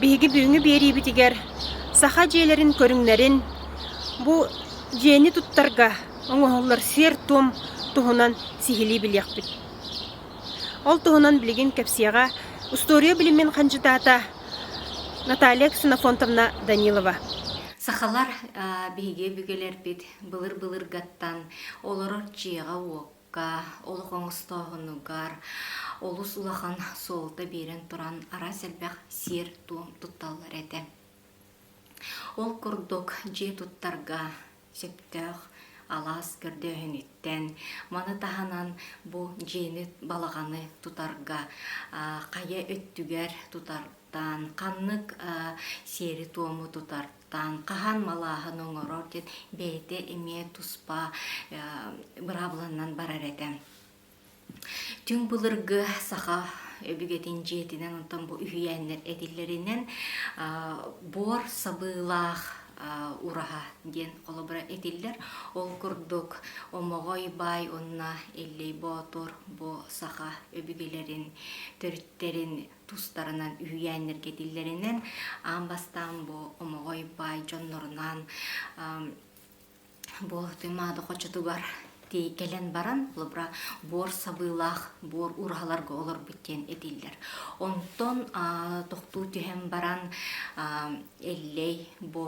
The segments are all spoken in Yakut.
Биһиги бүгүҥҥү биэриибитигэр саха дьиэлэрин көрүҥнэрин, бу дьиэни туттарга оҥоһуллар сиэр-туом туһунан сиһилии билиэхпит. Ол туһунан билигин кэпсиэҕэ устуоруйа билимин хандьытаата Наталья Ксенофонтовна Данилова. Сахалар биһиги өбүгэлэрбит былыр-былыргаттан олорор дьиэҕэ-уокка олох оҥостооһун угар олус улахан суолта биэрэн туран араас элбэх сиэр-туом тутталлар этэ. Ол курдук дьиэ туттарга сөптөөх алаас көрдөөһүнүттэн, маны таһынан бу дьиэни, балаҕаны тутарга хайа өттүгэр тутартан, ханнык сиэри-туому тутар Таанка хаһан малааһын оҥорор диэн бэйэтэ эмиэ туспа быраабыланнан барар этэ. Түҥ былыргы саха өбүгэтин дьиэтинэн онтон бу үһүйээннэр этиллэринэн буор сабыылаах ураһа диэн холобура этиллэр. Ол курдук Омоҕой Баай уонна Иллэй Боотур бу саха өбүгэлэрин төрүттэрин тустарынан үһүйээннэргэтиллэринэн аан бастаан бу омоҕой баай дьоннорунаан бу Туймаада хочотугар тии кэлэн баран холобура буор сабыылаах буор ураһаларга олорбут диэн этиллэр онтон тохтуу түһэн баран эллэй бу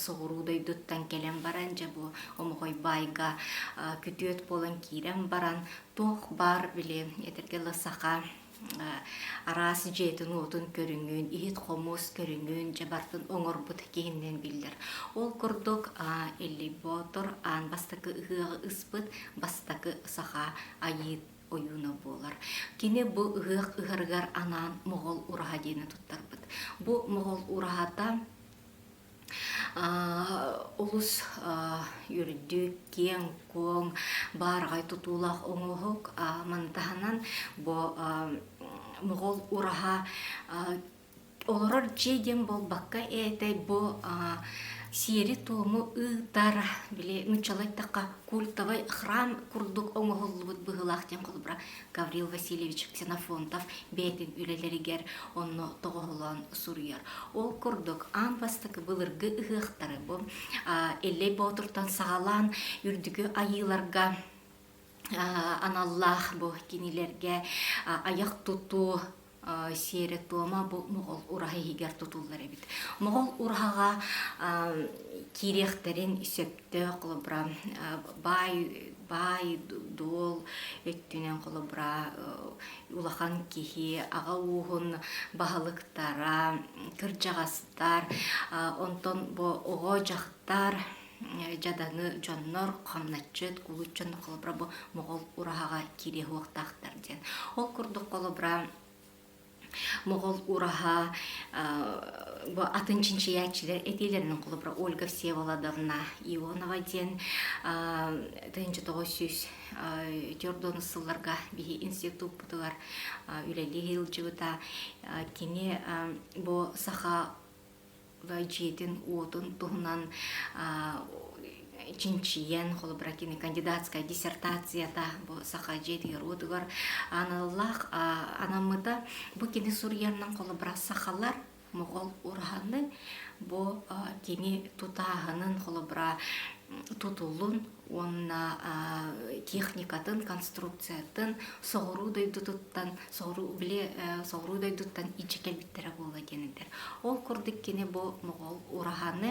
соҕуруу дойдуттан кэлэн баран дьэ бу омоҕой баайга күтүөт буолан киирэн баран туох баар били этэргэ саха араас дьиэтин-уотун көрүҥүн, иһит-хомуос көрүҥүн дьэ бартын оҥорбут киһиннэн биллэр. Ол курдук Илли Боотор аан бастакы ыһыаҕы ыспыт бастакы саха айыыт ойууна буолар. Кини бу ыһыах ыһарыгар анаан Моҕол ураһа диэни туттарбыт. Бу Моҕол ураһата Олус үрдүк, киэҥ-куоҥ, баараҕай тутуулаах оҥоһук. Мантаһынан бу моҕол ураһа олорор дьиэ диэн буолбакка этэй бу сиэри-туому ыытар, били нууччалыы айтахха культовый храм курдук оҥоһуллубут быһыылаах диэн холобура Гаврил Васильевич Ксенофонтов бэйэтин үлэлэригэр онно тоҕоһолоон суруйар. Ол курдук аан бастакы былыргы ыһыахтары бу Эллэй Боотуртан саҕалаан үрдүкү айыыларга аналлаах бу кинилэргэ айах тутуу сиэрэ-туома бу моҕол ураһа иһигэр тутуллар эбит. Моҕол ураһаҕа киириэхтэрин сөптөөх холобура баай баай дуол өттүнэн холобура улахан киһи аҕа ууһун баһылыктара кырдьаҕастар онтон бу оҕо дьахтар дьадаҥы дьоннор хамначчыт кулут дьон холобура бу моҕол ураһаҕа киириэһуохтаахтар диэн ол курдук холобура моҕол ураһа бу атын чинчийээччилэр этиилэрин холобура ольга всеволодовна ионова диэн тыһыынча тоҕус сүүс төрт уонус сылларга биһи институппутугар үлэлии сылдьыбыта кини бу саха дьиэтин-уотун туһунан чинчийэн холобура кини кандидатская диссертацията бу саха дьиэтигэр уотугар аналлаах анаммыта бу кини суруйаннан холобура сахалар моҕол ураны бу кини тутааһынын холобура тутулун уонна техникатын, конструкциятын соҕуруу дойдутуттан, соҕуруу били соҕуруу дойдуттан ичи кэлбиттэрэ буолла диэн этэр. Ол курдук кини бу моҕол ураһаны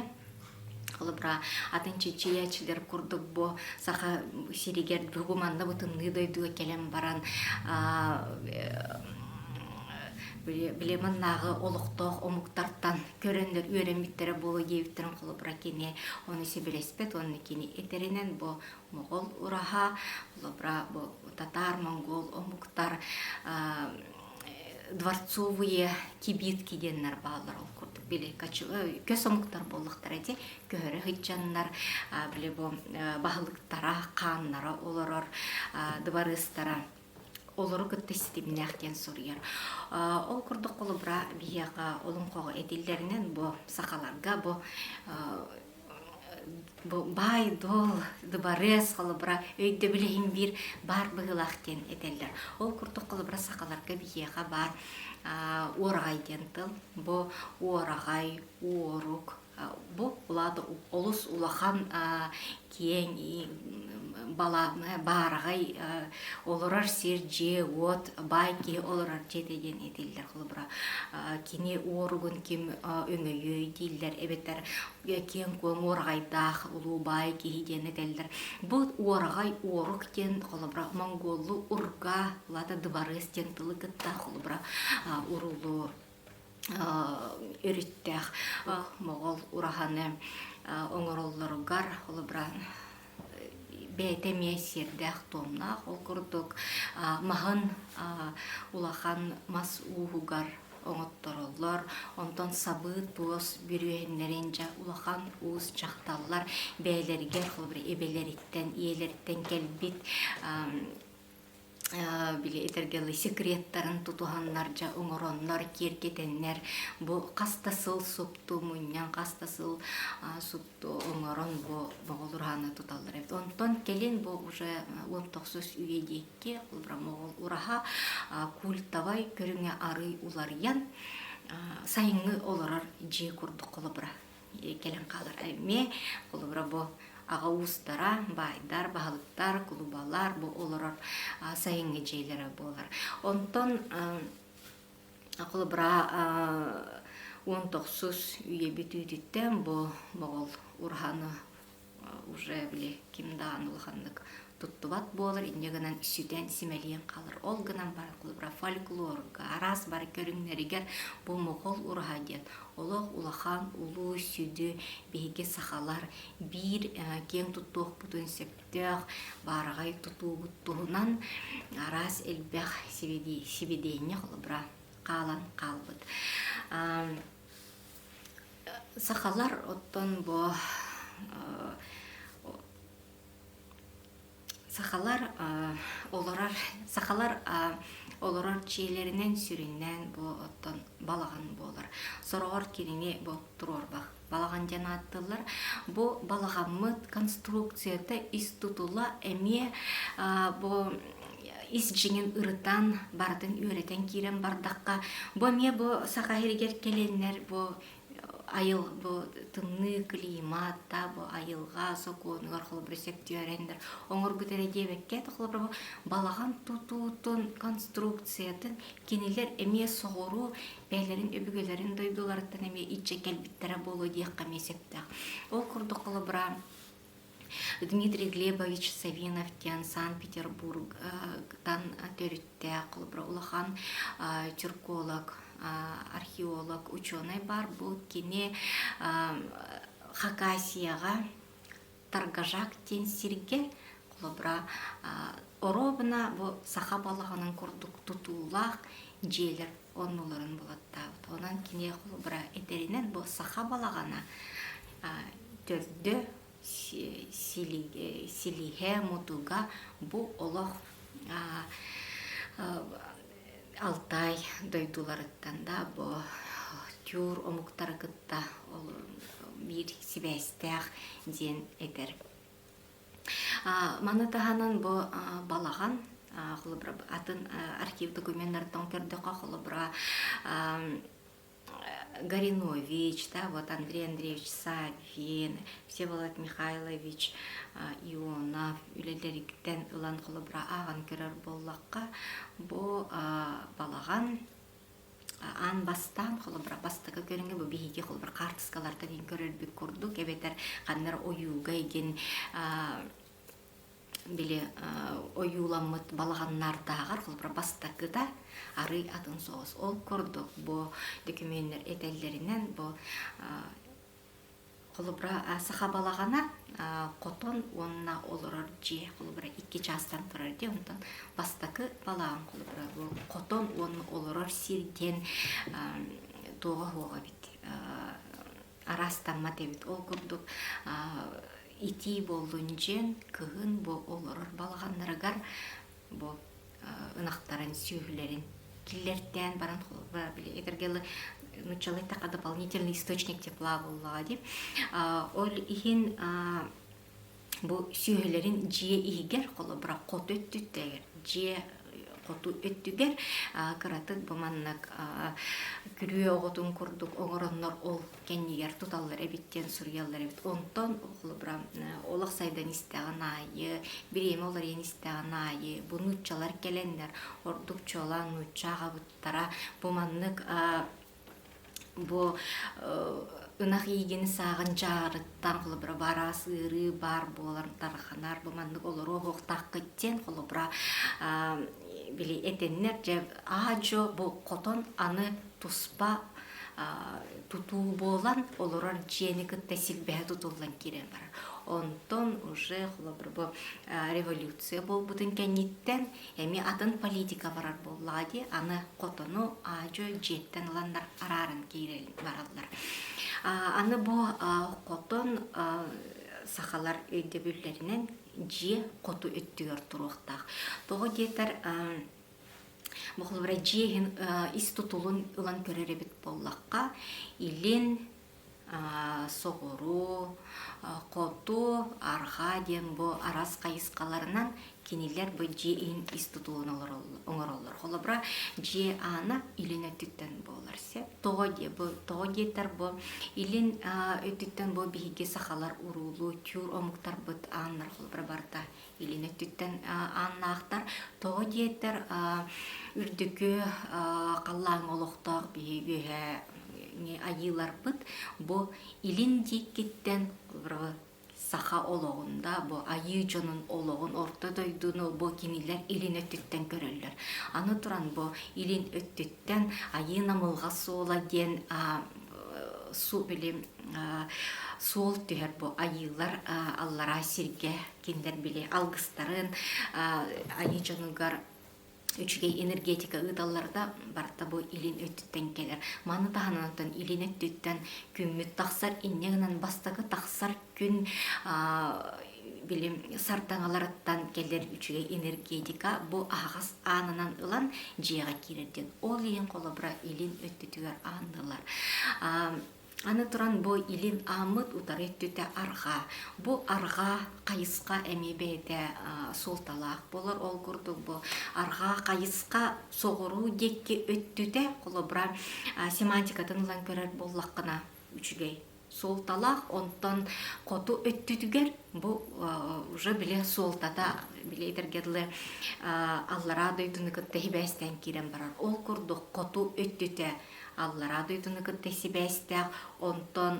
холобура атын чичиячилер курдук бу саха сиригэр бүгу манна бутунныы дойдуга кэлэн баран били маннааҕы олохтоох омуктартан көрөндөр үөрэммиттэрэ буолуо диэбиттэрин холобура кини ону сибилэспэт уонна кини этэринэн бу моҕол ураһа холобура бу татаар монгол омуктар дворцовые кибитки диэннэр бааллар ол курдук били көс омуктар буоллахтара ди көһөрө сытчаннар били бу баһылыктара хааннара олорор дыбарыыстара олору кытта ситимнээх диэн суруйар. Ол курдук холобура биһиэхэ олоҥхоҕо этиллэринэн бу сахаларга бу бу баай дуол дыбарыас холобура өйдөбүл иһин биир баар быһыылаах диэн этэллэр ол курдук холобура сахаларга биһиэхэ баар уораҕай диэн тыл бу уораҕай уорук Бу улаата олус улахан киэҥ баараҕай олорор сир-дьиэ-уот баай киһи олорор дьиэтэ диэн этиллэр холобура кини уоругун ким өҥөйүөй дииллэр эбэтэр киэҥ куоҥ уораҕайдаах улуу баай киһи диэн этэллэр бу уораҕай уорук диэн холобура монгуоллуу урга улаата дыбарыас диэн тылы кытта холобура уруулуу өрүттээх моҕол ураһаны оҥороллоругар ол быраан бэйэтэ эмиэ сиэрдээх-туомнаах ол курдук маһын улахан мас ууһугар оҥоттороллор онтон сабыы туос бүрүөһүннэрин дьэ улахан уус дьахталлар бэйэлэригэр холобура эбэлэриттэн ийэлэриттэн кэлбит били этэргэли секреттарын тутуһаннар дьа оҥороннор киэргэтэннэр бу хас да сыл супту мунньан хас да сыл супту оҥорон бу моҕолур ааны туталлар эбит онтон кэлин бу уже уот тохсус үйэ диэки бромоҕол ураһа культовай көрүҥэ арый уларыйан сайыҥҥы олорор дьиэ курдук холобура кэлэн хаалар эмиэ холобура бу аҕа уустара баайдар баһылыктар кулубалар бу олорор сайыҥҥы дьиэлэрэ буолар онтон холобура уон тохсус үйэбит үүтүттэн бу моҕол ураһаны уже били ким даҕаны улаханнык туттубат буолар инньэ гынан сүтэн симэлийэн хаалар ол гынан про фольклорга араас бары көрүҥнэригэр бу моҕол ураһа диэн олох улахан улуу сүдү биһиги сахалар биир киэҥ туттуохпутун сөптөөх баараҕай тутуубут туһунан араас элбэх сибидиэнньэ холобура хаалан хаалбыт Сахалар оттон бу сахалар олорор сахалар олорор дьиэлэринэн сүрүннээн бу оттон балаҕан буолар. Сороҕор кинини бу туруорбах балаҕан диэн ааттыыллар. Бу балаҕаммыт конструкцията ис тутула эмиэ бу ис дьиҥин ырытан, барытын үөрэтэн киирэн бардахха, бу эмиэ бу Саха сиригэр кэлэннэр бу айыл бу тымныы климат да бу айылҕа сокуонугар холобура сөптүөрэннэр оҥорбут эрэ диэбэккэ холобура бу балаҕан тутуутун конструкциятын кинилэр эмиэ соҕуруу бэйэлэрин өбүгэлэрин дойдуларыттан эмиэ иччэ кэлбиттэрэ буолуо диэххэ эмиэ сөптөөх. Ол курдук холобура Дмитрий Глебович Савинов диэн Санкт-Петербургтан төрүттээх холобура улахан черколог, археолог, ученый баар. Бу кини Хакасияҕа Таргажак диэн сиргэ холобура оруобуна бу саха балаҕанын курдук тутуулаах дьиэлэр оннуларын булаттаабыт. Онон киниэхэ быра этэринэн бу саха балаҕана төрдө силиһэ мутуга бу олох Алтай дойдуларыттан да бу тюр омуктары кытта биир сибээстээх диэн этэр Маны таһынан бу балаҕан холобура атын архив документнартан көрдөххө холобура Горинович, да, вот Андрей Андреевич Савин, Всеволод Михайлович Ионов үлэлэриттэн ылан холобура ааҕан көрөр буоллахха бу балаҕан аан бастаан холобура бастакы көрүҥҥэ бу биһиги холобур хаартыскаларга диэн көрөрбүт курдук эбэтэр ханнар ойууга игин били ойууламмыт балаҕаннаардааҕар холобура бастакыта арый атын соҕус ол курдук бу докумуоннар этэллэринэн бу Холобура, саха балаҕана хотон уонна олорор дьиэ, холобура, икки чаастан турар дьиэ, онтон бастакы балаҕан, холобура, хотон уонна олорор сир диэн туоҕа суох эбит, араастаммат эбит. Ол курдук итии буоллун дьиэн, кыһын олорор балаҕаннарыгар бу ынахтарын, сүөһүлэрин киллэртээн баран били этэргэлэ нуччалайтака дополнительный источник тепла буоллаҕа дии ол иһин бу сүөһүлэрин дьиэ иһигэр холобура хоту өттүттэгэр дьиэ хоту өттүгэр кыратык бу маннык күрүө оҕотун курдук оҥороннор ол кэннигэр туталлар эбит диэн суруйаллар эбит онтон холобура олох сайдан истэҕин аайы бириэмэ уларыйан истэҕин аайы бу нууччалар кэлэннэр ордук чуолаан нуучча аҕабыттара бу маннык бу ынах иигин сааҕын дьаарыттан холобура бараас ыарыы баар буолан тарханар бу маннык олору оһуохтааххыт диэн холобура били этэннэр дьэ аа-дьуо бу хотон аны туспа тутуу буолар, олорор дьиэни кытта силбэһэ тутуллан киирэн барар. Онтон уже холобурбу революция буолбутун кэнниттэн эми атын политика барар буоллаҕа дии, аны хотону аадьы дьиэттэн ыланнар арааран киирэн бараллар. Аны бу хотон сахалар өйдөбүллэринэн дьиэ хоту өттүгэр туруохтаах. Тоҕо диэтэр Бохулура дьиэһин ис тутулун ылан көрөр эбит буоллахха, илин, соҕуруу, хоту, арҕаа диэн бу арас хайысхаларынан кинилэр бу дьиэ иһин ис тутулун оҥороллор. Холобура, дьиэ аана илин өттүттэн буолар сөп. Тоҕо диэ бу тоҕо диэтэр бу илин өттүттэн бу биһиги сахалар уруулуу тюр омуктарбыт ааннара холобура барыта илин өттүттэн ааннаахтар. Тоҕо диэтэр үрдүкү халлааҥҥа олохтоох биһи үөһэ айыыларбыт бу илин диэкиттэн саха олоҕун да бу айыы дьонун олоҕун орто дойдуну бу кинилэр илин өттүттэн көрөллөр аны туран бу илин өттүттэн айыы намылҕа суола диэн су били суол түһэр бу айыылар аллараа сиргэ кинилэр били алгыстарын айыы дьонугар үчүгэй энергетика ыыталлара да барыта бу илин өттүттэн кэлэр маны таһынан онтон илин өттүттэн күммүт тахсар инньэ гынан бастакы тахсар күн били сардаҥаларыттан кэлэр үчүгэй энергетика бу аһаҕас аанынан ылан дьиэҕэ киирэр диэн ол иһин холобура илин өттүтүгэр аанныылар Аны туран бу илин ааммыт утары өттүтэ арҕаа. Бу арҕаа хайысха эмиэ бэйэтэ суолталаах болор ол курдук бу арҕаа хайысха соҕуруу диэки өттүтэ холобура семантикатын ылан көрөр буоллаххына үчүгэй суолталаах онтон хоту өттүтүгэр бу уже били суолтата били этэргэ аллараа дойдуну кытта сибээстээн киирэн барар ол курдук хоту өттүтэ аллараа дойдуну кытта сибээстээх онтон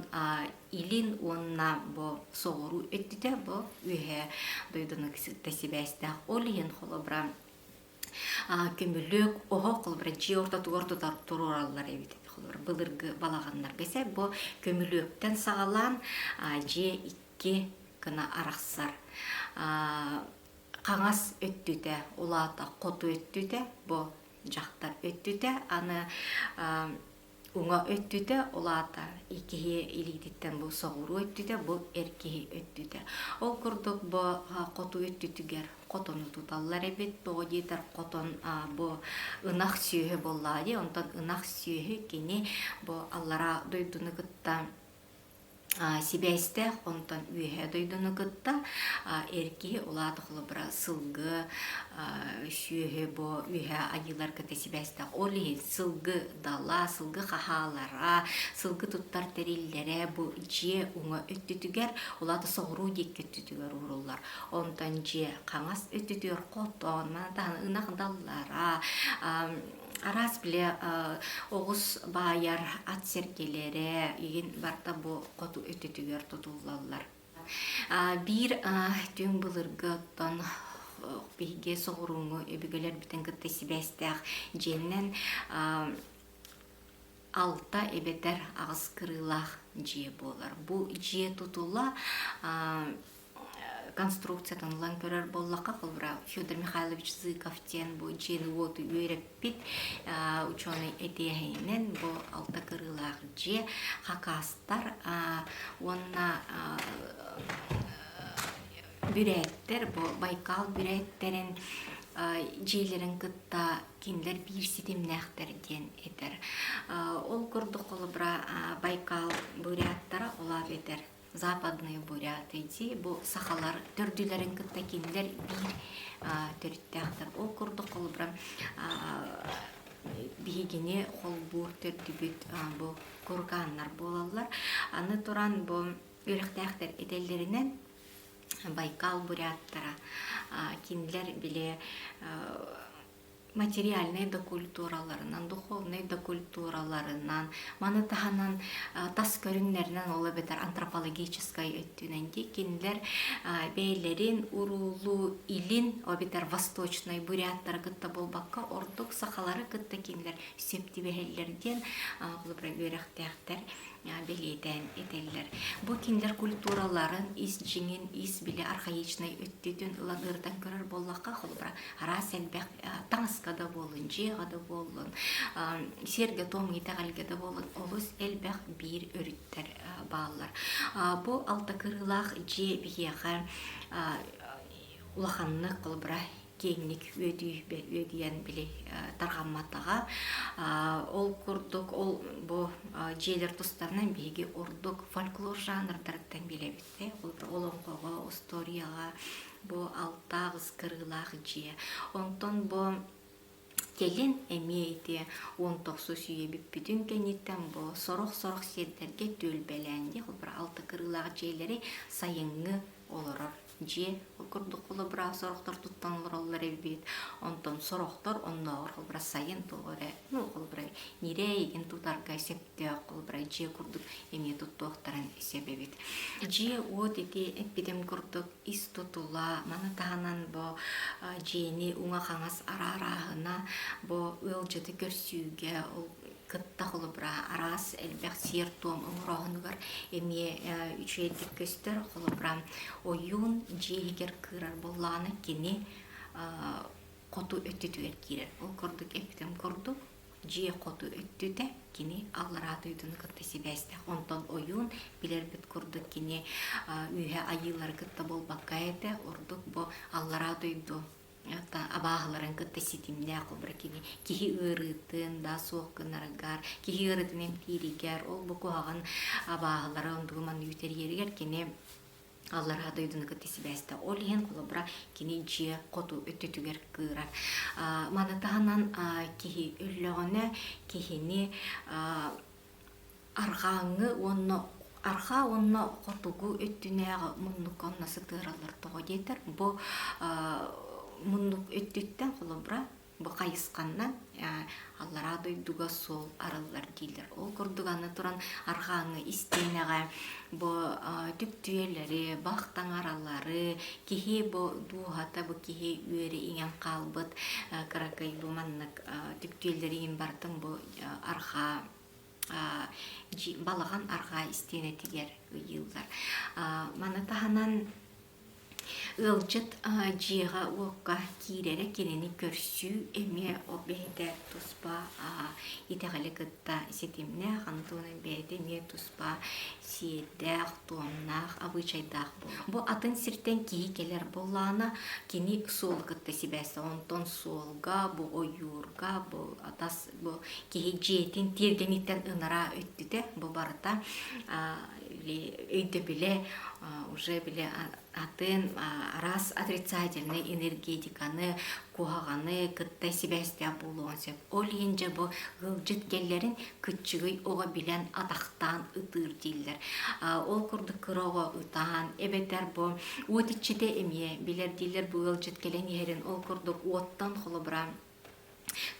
илин уонна бу соҕуруу өттүтэ бу үөһэ дойдуну кытта сибээстээх ол иһин холобура көмүлүөк оһох холобура дьиэ ортотугар тутар туруораллар эбит холобура былыргы балаҕаннарга сэ бу көмүлүөктэн саҕалаан дьиэ икки кына арахсар хаҥас өттүтэ улаата хоту өттүтэ бу дьахтар өттүтэ аны уҥа өттүтэ ол аата киһи илиититтэн бу соҕуруу өттүтэ бу эр киһи өттүтэ ол курдук бу хоту өттүтүгэр хотону туталлар эбит тоҕо диэтэр хотон бу ынах сүөһү буоллаҕа дии онтон ынах сүөһү кини бу аллараа дойдуну кытта сибээстээх онтон үөһээ дойдуну кытта эр киһи улаатах холобура сылгы сүөһү бу үөһээ айыылар кытта сибээстээх ол иһин сылгы дала сылгы хаһаалара сылгы туттар тэриллэрэ бу дьиэ уҥа өттүтүгэр улаата соҕуруу диэки өттүтүгэр ууруллар онтон дьиэ хаҥас өттүтүгэр хотоон ынах даллара Араас биле оҕус баайар ат сэргэлэрэ игин барта бу хоту өтөтүгэр тутуллаллар. Биир түҥ былыргы оттон биһиги соҕурууҥҥу өбүгэлэр бүтэн кытта сибээстээх дьиэннэн алта эбэтэр аҕыс кырыылаах дьиэ буолар. Бу дьиэ тутула конструкциятын ылан көрөр буоллахха холбура Федор Михайлович Зыков диэн бу дьиэни-уоту үөрэппит ученый этиэһэйинэн бу алта кырыылаах дьиэ хакастар уонна бүрээттэр бу Байкал бүрээттэрин дьиэлэрин кытта кинилэр биир ситимнээхтэр диэн этэр ол курдук холобура Байкал буряттара олаап этэр Западные буря дии бу сахалар төрдүлэрин кытта кинилэр биир төрүттээхтэр. Ол курдук холобура биһигини холбуур төрдүбүт бу кургааннар буолаллар. Аны туран бу үрэхтээхтэр этэллэринэн Байкал буряттара кинилэр били материальнай да культураларынан, духовнай да культураларынан, маны таһынан тас көрүннэринэн ол эбэтэр антропологическай өттүнэн диэкинилэр бэйэлэрин уруулуу илин эбэтэр восточнай буряттары кытта буолбакка ордук сахалары кытта кинилэр сөп түбэһэллэр диэн үөрэхтээхтэр бэлиэтээн этэллэр. Бу кинилэр культураларын, ис дьиҥин, ис били архаичнай өттүтүн ылан ырытан көрөр буоллахха, холобура, араас элбэх таҥаска да буоллун, дьиэҕэ да буоллун, сиэргэ-туом итэҕэлгэ да буоллун, олус элбэх биир өрүттэр бааллар. Бу алта кырыылаах дьиэ биһиэхэ улаханнык, холобура, киэҥник үөдүйбэ үөдүйэн били тарҕамматаҕа ол курдук ол бу дьиэлэр тустарынан биһиги ордук фольклор жанрдарыттан билэбит олоҥхоҕо устуоруйаҕа бу алтаах ыскырыылаах дьиэ онтон бу Кэлин эмиэ ити уон тохсус үйэ бүппүтүн кэнниттэн бу сорох-сорох сирдэргэ түөлбэлээн диэх алта кырыылаах дьиэлэри сайыҥҥы олорор дьиэ курдук холобура сорохтортуттан олороллор эбит онтон сорохтор оннооҕор холобура сайын тоҕо эрэ ну холобура ньирээ игин тутарга сөптөөх холобура дьиэ курдук эмиэ туттуохтарын сөп эбит дьиэ уот ити эппитим курдук ис тутула, маны таһынан бу дьиэни уҥа-хаҥас араарааһына, бу ыалдьыты көрсүүгэ ол кытта холобура араас элбэх сиэр-туом оҥорооһунугар эмиэ үчүгэйдик көстөр. Холобура, ойуун дьиэ иһигэр кыырар буоллаҕына кини хоту өттүтүгэр киирэр. Ол курдук эпитем курдук дьиэ хоту өттүтэ кини аллараа дойдуну кытта сибээстээх онтон ойуун билэрбит курдук кини үөһэ айыылары кытта буолбакка этэ ордук бу аллараа дойду абааһыларын кытта ситимнээх обра кини киһи ыарыытын да суох гынарыгар киһи ыарыытын эмтииригэр ол бу куһаҕан абааһылара ондугу манна үүтэриэригэр кини аллараа дойдуну кытта сибээсте ол иһин холобура кини дьиэ хоту өттүтүгэр кыыра маны таһынан киһи өллөҕүнэ киһини арҕааҥҥы уонна арҕаа уонна хотугу өттүнээҕи муннукка онно сытыараллар тоҕо диэтэр бу муннук өттүттэн холобура бу хайысханна аллараа дойдуга суол арыллар дииллэр ол курдук аны туран арҕааҥы истиэнэҕэ бу түптүйэлэри бах таҥаралары киһи бу дууһата бу киһи үөрэ иҥэн хаалбыт кыракыйбы маннык түптүйэлэри иҥин бартын бу архаа балаҕан арҕаа истиэнэтигэр ыйыыллар маны таһынан Ыалдьыт дьиэҕэ-уокка киирэрэ кинини көрсүү эмиэ ол бэйэтэ туспа итэҕэли кытта ситимнээх Антонин бэйэтэ эмиэ туспа сиэрдээх, туомнаах, обычайдаах буолар. Бу атын сиртэн киһи кэлэр буоллаҕына кини суолу кытта сибээстээх. Онтон суолга, бу ойуурга, бу тас бу киһи дьиэтин тиэргэниттэн ынараа өттүтэ бу барыта өйдөбүлэ уже бile атын араас отрицательнай энергетиканы куһаҕаны кытта сибээстээх буолуон сөп ол иһин дьэ бу ыалдьыт кэллэрин кыччыгый оҕо билэн атахтаан ытыыр дииллэр ол курдук кыра оҕо ытаан эбэтэр бу уот иччитэ эмиэ билэр дииллэр бу ыалдьыт кэлэн иһэрин ол курдук уоттан холобура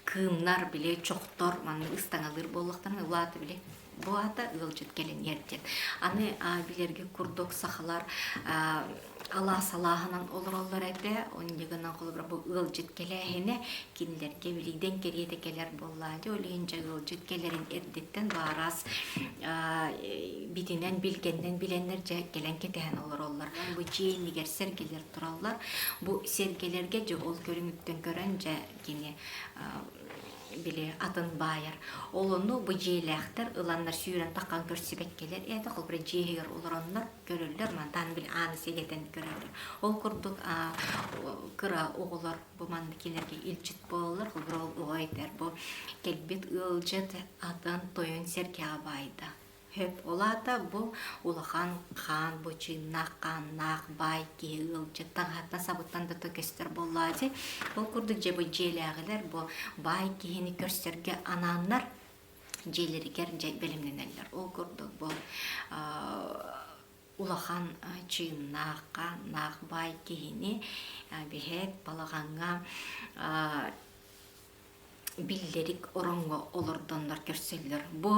кыымнар били чохтор маннык ыстаҥалыыр буоллахтарына улаата били бу аата ыалдьыт кэлэн иэрдиэн аны билэргэ курдук сахалар алаас алааһынан олороллор этэ онньу гынан холобура бу ыалдьыт кэлээһинэ кинилэргэ билиидэн кэриэтэ кэлэр буоллаа дии ол иһин дьэ ыалдьыт кэлэрин эрдэттэн баараас битинэн билгэннэн билэннэр дьэ кэлэн кэтэһэн олороллор бу дьиэ иннигэр сэргэлэр тураллар. Бу сиэргэлэргэ дьэ ол көрүҥүттэн көрөн дьэ кини били атын баайар. Ол онну бу дьиэлээхтэр ыланнар сүүрэн таххан көрсүбэт кэлэр ээтэ холбура дьиэһигэр олороннор көрөллөр мантан били ааны сигэтэн көрөллөр. Ол курдук кыра оҕолор бу манна кинилэргэ илчит буолаллар холбура ол оҕо этэр бу кэлбит ыалдьыт атын тойон сэргэҕэ баайда. Сөп, ол аата бу улахан хаан бу чыыннаах хааннаах баай киһи ыалдьыт таҥаһатна сабыттан да көстөр буоллаа дии. Ол курдук дьэбы дьиэлээҕилэр бу баай киһини көрсөргө анааннар дьиэлэригэр дьэ бэлэмнэнэллэр. Ол курдук бу улахан чыыннаах хааннаах баай киһини биһэт балаҕаҥҥа биллэрик ороҥҥо олордоннор көрсөллөр. Бу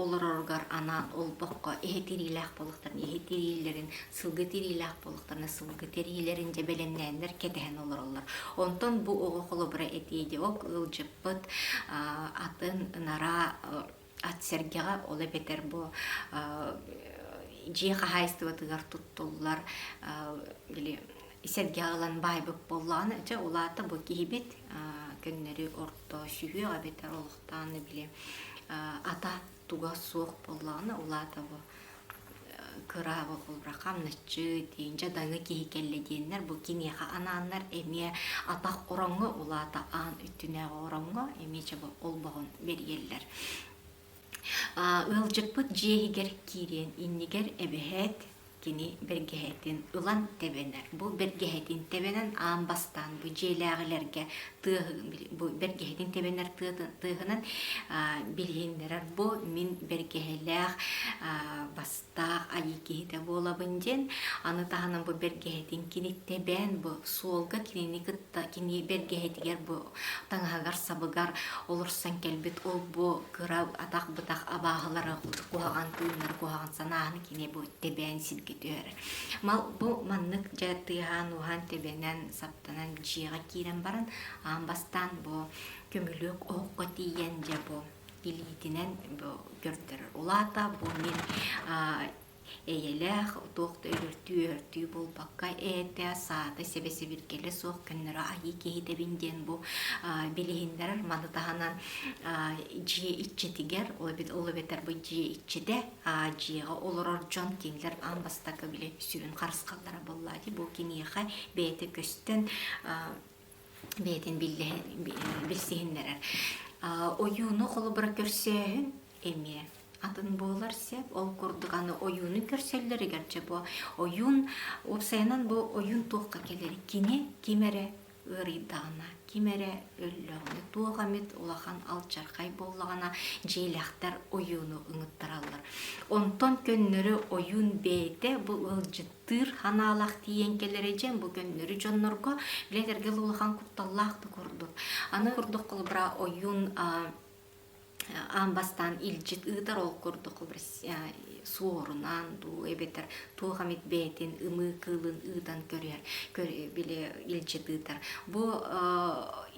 олороругар анаан олбоххо иһи тириилээх буолуохтарын, иһи тириилэрин, сылгы тириилээх буолуохтарын, сылгы тириилэрин дьэбэлэҥнээннэр кэтэһэн олороллор. Онтон бу оҕо холобура этиэ дии, ок ыалдьыппыт атын нараа Ат-сэргэҕэ ол эбэтэр бу дьиэ хаһаайыстыбатыгар туттуллар били сэргэҕэ ылан баайбыт буоллаҕына дьэ улаата бу киһибит көннөрү орто сүһүөх эбэтэр олохтоон били ата туга суох буоллаҕына улаата бу кырааба булра хамначчы тиинчэ даңы киһи кэллэ диэннэр бу киниэхэ анааннар эмиэ атах ороҥҥо улаата аан үттүнээҕи ороҥҥо эмиэ чабы олбоһун бэрийэллэр ыалдьыппыт дьиэһигэр киириэн иннигэр эбэһээт кини бэргэһэтин ылан тэбэнэр бу бэргэһэтин тэбэнэн аан бастаан бу дьиэлээҕилэргэ тыа бу бэргэһэтин тэбэнэр тыаһынан билиһиннэрэр бу мин бэргэһэлээх бастаах айыы киһитэ буолабын диэн аны таһынан бу бэргэһэтин кини тэбээн бу суолга кинини кытта кини бэргэһэтигэр бу таҥаһыгар сабыгар олорсон кэлбит ол бу кыра атах бытах абааһылары куһаҕан тыыннары куһаҕан санааны кини бу тэбээн сиргэ түһэрэр мал бу маннык дьэ тыаһаан уһаан тэбэнэн Тынан дьиэҕэ киирэн баран аан бастаан бу көмүлүөк оһоххо тиийэн дьэ бу илиитинэн бу көрдөрөр. Улаата бу мин эйэлээх туох да өлөртүү өлөртүү буолбакка ээтэ саата сэбэсэбиргэлэ суох көннөрө айыы киһитэбин диэн бу билиһиннэрэр маны таһынан дьиэ иччитигэр ол эбэтэр бу дьиэ иччитэ Дьиэҕэ олорор дьон кинилэр аан бастакы били сүрүн харысхаллара буоллаа дии бу киниэхэ бэйэтэ көстөн бэйэтин билсиһиннэрэр. Ойууну холобура көрсөөһүн эмиэ атын буолар сеп. Ол курдук аны ойууну көрсөллөрүгэр дьэ бу ойуун уопсайынан бу ойуун туохха кэлэр кинэ ким эрэ ыарыйдаҕына, ким эрэ өллөҕүнэ, туох эмит улахан алчархай буоллаҕына, дьиэлэхтэр ойууну ыҥыттараллар. Онтон көннөрү ойуун бэйэтэ бу ыалдьыттыыр ханаалах тиийэн кэлэрэ дьэн бу көннөрү дьоннорго, билэн кэргэл улахан кутталлаах да курдук. Аны курдук холобура ойуун аан бастаан илдьит ыытар ол курдук суорунан дуу эбэтэр туох эмит бэйэтин ымыы кыылын ыытан көрүһэр били илдьит ыытар бу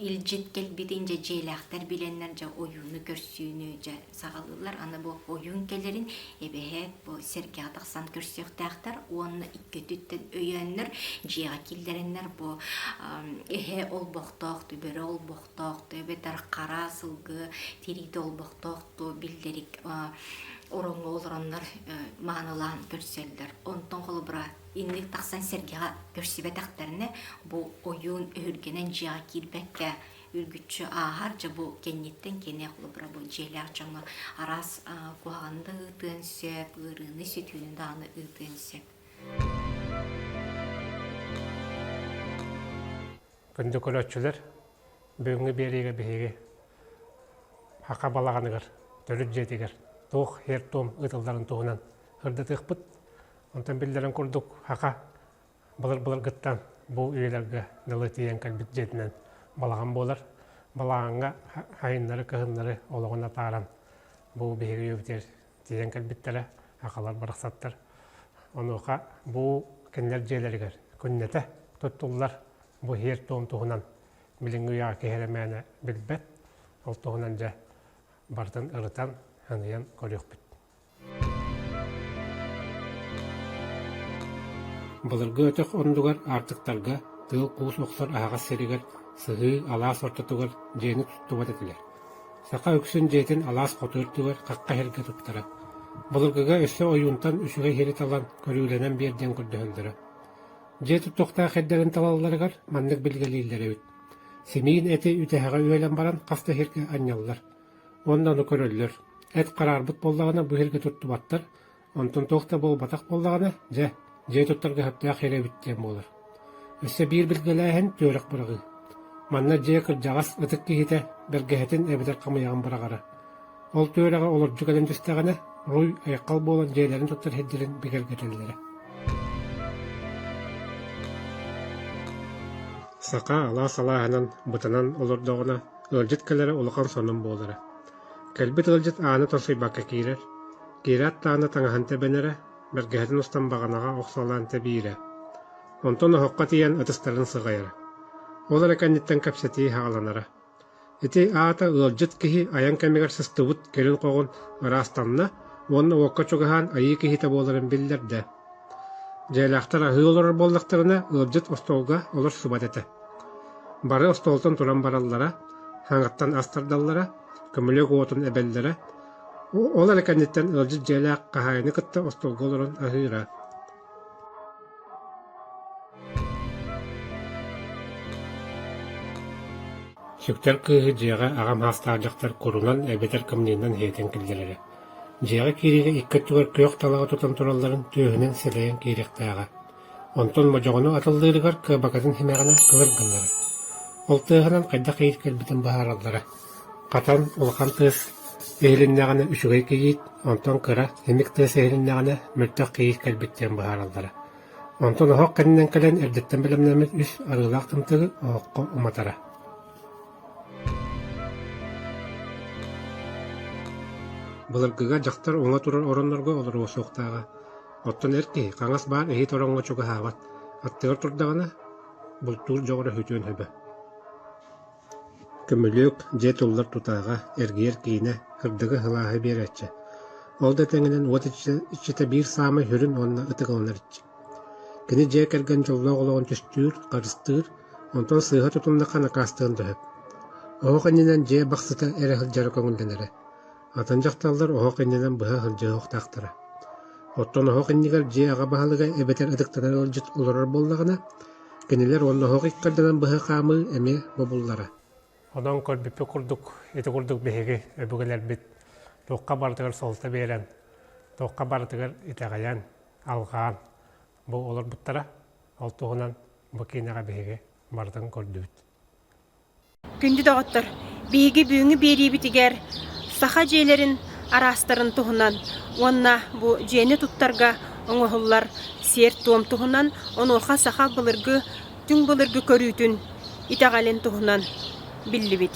илдьит кэлбитин дьэ дьиэлээхтэр билэннэр дьэ ойууну көрсүүнү дьэ саҕалыыллар аны бу ойуун кэлэрин эбэһээт бу сэргэҕэ тахсан көрсүөхтээхтэр уонна иккититтэн өйөөннөр дьиэҕэ киллэрэннэр бу эһэ олбохтоох түбэрэ олбох олохтоохту эбэтэр хара сылгы тириитэ олбохтоохту биллэрик ороҥҥо олороннор маанылаан көрсөллөр. Онтон холобура инник тахсан сэргэҕэ көрсүбэтэхтэринэ бу ойуун өһүргэнэн дьиэҕэ киирбэккэ үргүччү ааһар дьэ бу кэнниттэн кини холобура бу дьиэлээх дьоҥҥо араас куһаҕаны да ыытыан сөп ыарыыны сүтүүнү даҕаны ыытыан сөп Күндү көрөөччүлэр, бүгүҥҥү биэриигэ биһиги Ака балаҕаныгар, төрүт дьиэтигэр туох һиэр-туом ыытылларын туһунан сырдатыахпыт. Онтон биллэрин курдук, Ака былыр-былыргыттан бу үйэлэргэ дылы тиийэн кэлбит дьиэтинэн балаҕан буолар. Балаҕаҥҥа айаннары-кыһыннары олоҕун атааран бу биһиги үйэбитигэр тиийэн кэлбиттэрэ акалар барахсаттар онуоха бу кинилэр дьиэлэригэр күннэтэ туттуллар бу иһэр-туом туһунан билиҥҥи үйаҕа киһи эрэ мээнэ билбэт ол туһунан дьэ барытын ырытан аныйан көрүөхпүт былыргы өтөх оннугар аартыктарга тыыл куус охсор аһаҕас сиригэр сыһыы алаас ортотугар дьиэни туттубат этилэр Саха үксүн дьиэтин алаас хоту үрдүгэр хахха иһэргэ туттара, былыргыга өссө ойуунтан үчүгэй иһэри талан көрүүлэнэн биэрдиэн көрдөһөллөрө. Дьиэ тутуохтаах эрдэрин талалларыгар маннык билгэлииллэр эбит: симиин эти үтэһэҕэ үөлэн баран хас да иһиргэ анньаллар, онно ону көрөллөр, эт хараарбыт буоллаҕына бу иһиргэ туттубаттар, Онтон туох да буолбатах буоллаҕына, дьэ, дьиэ туттарга сөптөөх эри эбит диэн буолар. Өссө биир билгэлээһин – түөрэх быраҕыы. Манна дьиэ кырдьаҕас ытык киһитэ бэргэһэтин эбэтэр хамыйаҕын быраҕара. Ол түөрэҕэ олордуу кэлэн түстэҕинэ, руй айаххал буолан дьиэлэрин туттар сирдэрин бигэргэтэллэрэ. Саха алаас алааһынан бытанан олордоҕуна, ыалдьыт кэлэрэ улахан сонун буолара. Кэлбит ыалдьыт ааны торсуйбакка киирэр, киирэ аттаана таҥаһын тэбэнэрэ, бэргэһэтин устан баҕанаҕа охсуолаан тэбиирэ. Онтон оһоххо тиийэн ытыстарын сыҕайара. Ол эрэ кэнниттэн кэпсэтии хааланара. Ити аата ыалдьыт киһи айан кэмигэр сыстыбыт кэлин-хоҕун ыраастанна уонна уокка чугаһаан айыы киһитэ буоларын биллэрдэ Дьиэлээхтэр аһыы олорор буоллахтарына, ыалдьыт остуолга олорсубат этэ. Бары остуолтан туран бараллара, хаҥаттан ас тардаллара, көмүлүөк уотун эбэллэрэ, ол эрэ кэнниттэн ыалдьыт дьиэлээх хаһаайыны кытта остуолга олорон аһыыра Сүктэр кыыһы дьиэҕэ аҕам саастаах дьахтар курунан эбэтэр камнинынан иһитэн киллэрэрэ Дьиэҕэ киириигэ икки өттүгэр күөх талаҕы тутан туралларын түөһүнэн силэйэн киириэхтээҕэ, онтон модьоҕону атыллыырыгар кыабакатын симэҕинэ кылыр гыннарар. Ол тыаһынан хайдах иит кэлбитин быһаараллара: хатан улахан тыас иһилиннэҕинэ үчүгэй кийиит, онтон кыра, симик тыас иһилиннэҕинэ мөлтөх кийиит кэлбит диэн быһаараллара. Онтон оһох кэннинэн кэлэн эрдэттэн бэлэмнэммит үс арыылаах тымтыгы оһоххо уматара. Былыргыга дьахтар уҥа турар ороннорго олоруо суохтааҕа, оттон эр киһи хаҥас баар иһит ороҥҥо чугаһаабат, аттыгар турдаҕына, бултуур дьоҕура үтүөн сөбө. Көмүлүөк дьиэ туллар тутааҕа, эргийэр киинэ, кырдыгы һылааһы биэрээччи. Ол да тэҥинэн уот иччитэ биир саамай сүрүн уонна ытык аланар иччик Кини дьиэ кэргэн дьоллоох олоҕун түстүүр, харыстыыр, онтон сыыһа тутуннахха накаастыан да сөп. Оһох иннинэн дьиэ бахсыта эрэ сылдьара көҥүллэнэрэ. Атын дьахталлар оһох иннинэн быһа сылдьар суохтаахтара. Оттон оһох иннигэр дьиэ аҕа баһылыга эбэтэр ытыктанар ыалдьыт олорор буоллаҕына, кинилэр уонна оһох иккэрдэнэн быһа хаамыы эмиэ бобуллара. Онон көрбүппүт курдук, ити курдук биһиги өбүгэлэрбит туохха барытыгар суолта биэрэн, туохха барытыгар итэҕэйэн, алҕаан бу олорбуттара. Ол туһунан бу киинэҕэ биһиги барытын көрдүбүт. Күндү доҕоттор, биһиги бүгүҥҥү биэриибитигэр саха дьиэлэрин араастарын туһунан уонна бу дьиэни туттарга оҥоһуллар сиэр-туом туһунан, онуоха саха былыргы, түҥ былыргы көрүүтүн итэҕэлин туһунан биллибит.